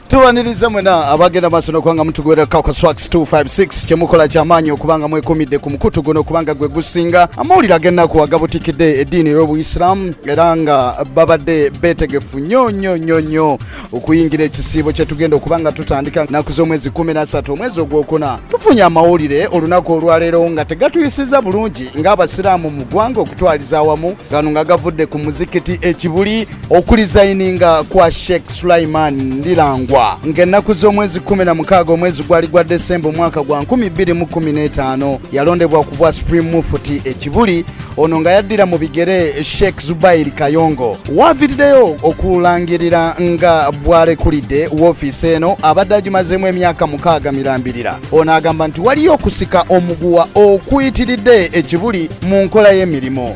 tubaniriza mwena abagenda maaso nokubanga mutugobererako ku swax 256 kyemukola kyamaanyi okubanga mwekumidde ku mukutu guno okubanga gwe gusinga amawulire agennaku agabutikidde eddiini ey'obuyisiraamu era nga babadde beetegefu nnyo nnyo nnyo nnyo okuyingira ekisiibo kyetugenda okubanga tutandika nnaku z'omwezi 13 omwezi ogwokuna tufunye amawulire olunaku olwaleero nga tegatuyisiza bulungi ng'abasiraamu mu ggwanga okutwaliza awamu gano nga gavudde ku muzikiti ekibuli okulizayininga kwa sheikh sulaiman ndilangwa ng'ennaku z'omwezi 16 omwezi gwali gwa desemba omwaka gwa 215 yalondebwa ku bwa supreme mufuti ekibuli ono nga yaddira mu bigere sheikh zubairi kayongo waaviriddeyo okulangirira nga bw'alekulidde woofiisi eno abadde agimazeemu emyaka mukaaga mirambirira ono agamba nti waliyo okusika omuguwa okuyitiridde ekibuli mu nkola y'emirimu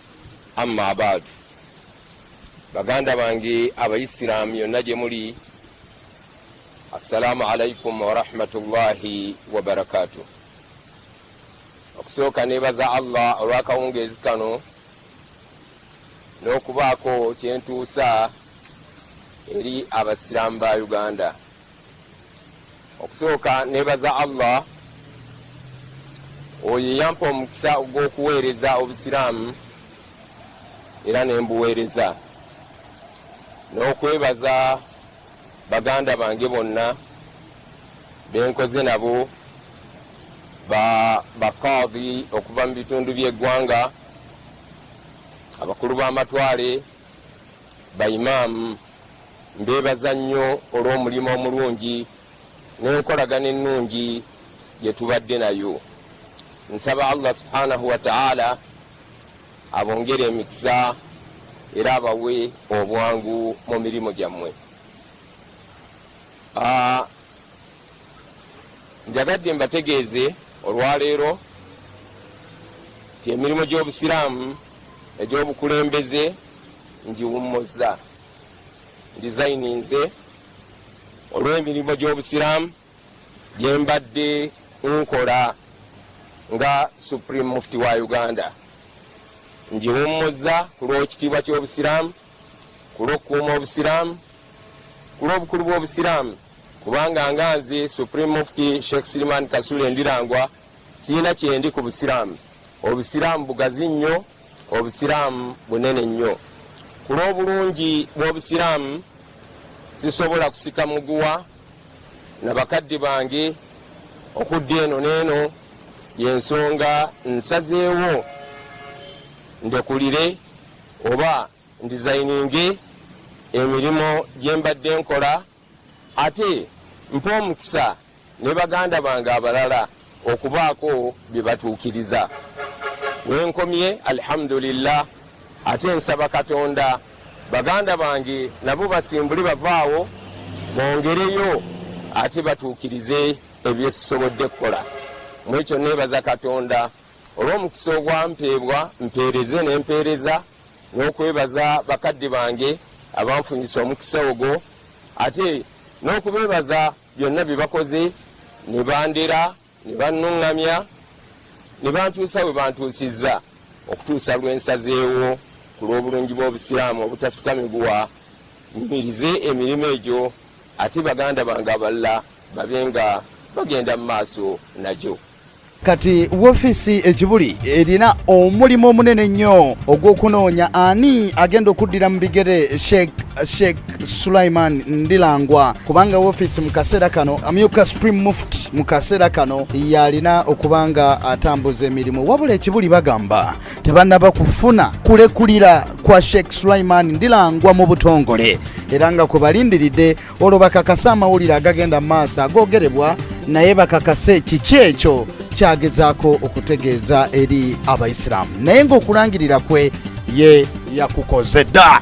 Amma abaadu, baganda bange abayisiraamu yonna gye muli, assalaamu alaikum warahmatullahi wabarakaatu. Okusooka neebaza Allah olw'akawungeezi kano n'okubaako kye ntuusa eri Abasiraamu ba Uganda. okusooka nebaza allah oyo eyampa omukisa ogw'okuweereza obusiraamu era nembuweereza n'okwebaza baganda bange bonna benkoze nabo bakaadi okuva mu bitundu by'eggwanga abakulu b'amatwale baimaamu Mbeebaza nnyo olw'omulimu omulungi n'enkolagana ennungi gye tubadde nayo. Nsaba Allah subhanahu wa ta'ala abongere emikisa era abawe obwangu mu mirimu gyammwe. Ah, njagadde mbategeeze olwaleero nti emirimu gy'obusiraamu egy'obukulembeze ngiwummuzza. ndizayininze olw'emirimu gy'obusiraamu gye mbadde nkola nga supreme mufti wa uganda ngiwummuzza ku lw'ekitiibwa ky'obusiraamu ku lw'okukuuma obusiraamu ku lw'obukulu bw'obusiraamu kubanga nga nze supreme mufti sheikh siliman kasule ndirangwa Sirina kyendi ku Busiraamu. Obusiraamu bugazi nnyo, Obusiraamu bunene nnyo. Ku lw'obulungi bw'Obusiraamu, sisobola kusika muguwa na bakadde bange okudda eno n'eno, y'ensonga nsazeewo ndekulire oba ndizayininge emirimu gye mbadde nkola. Ate mpa omukisa ne baganda bange abalala okubaako bye batuukiriza. Wenkomye alhamdulillah, ate nsaba Katonda baganda bange nabo basimbule bavaawo bongereyo ate batuukirize ebyesisobodde kukola. Mwekyo neebaza Katonda olw'omukisa ogwampeebwa mpeereze n'empeereza. n'okwebaza bakadde bange abanfunyisa omukisa ogwo ate n'okubeebaza byonna bye bakoze ne bandera ne bannuŋŋamya ne bantuusa we bantuusizza okutuusa lwe nsazeewo ku lw'obulungi bw'obusiraamu obutasikamibwa nyumirize emirimu egyo ate baganda bange abalala babe nga bagenda mu maaso nagyo Kati woofiisi e Kibuli erina omulimu omunene ennyo ogw'okunoonya ani agenda okuddira mu bigere Sheikh Sheikh Sulaiman Ndilangwa kubanga woofiisi mu kaseera kano amyuka Supreme Muft mu kaseera kano yalina okuba nga atambuza emirimu wabula ekibuli bagamba tebanaba kufuna kulekulira kwa Sheikh Sulaiman Ndilangwa mu butongole era nga kwe balindiridde olwo bakakase amawulire agagenda mu maaso agoogerebwa naye bakakase kiki ekyo kyagezaako okutegeeza eri abaisiraamu naye ng'okulangirira kwe ye yakukoze dda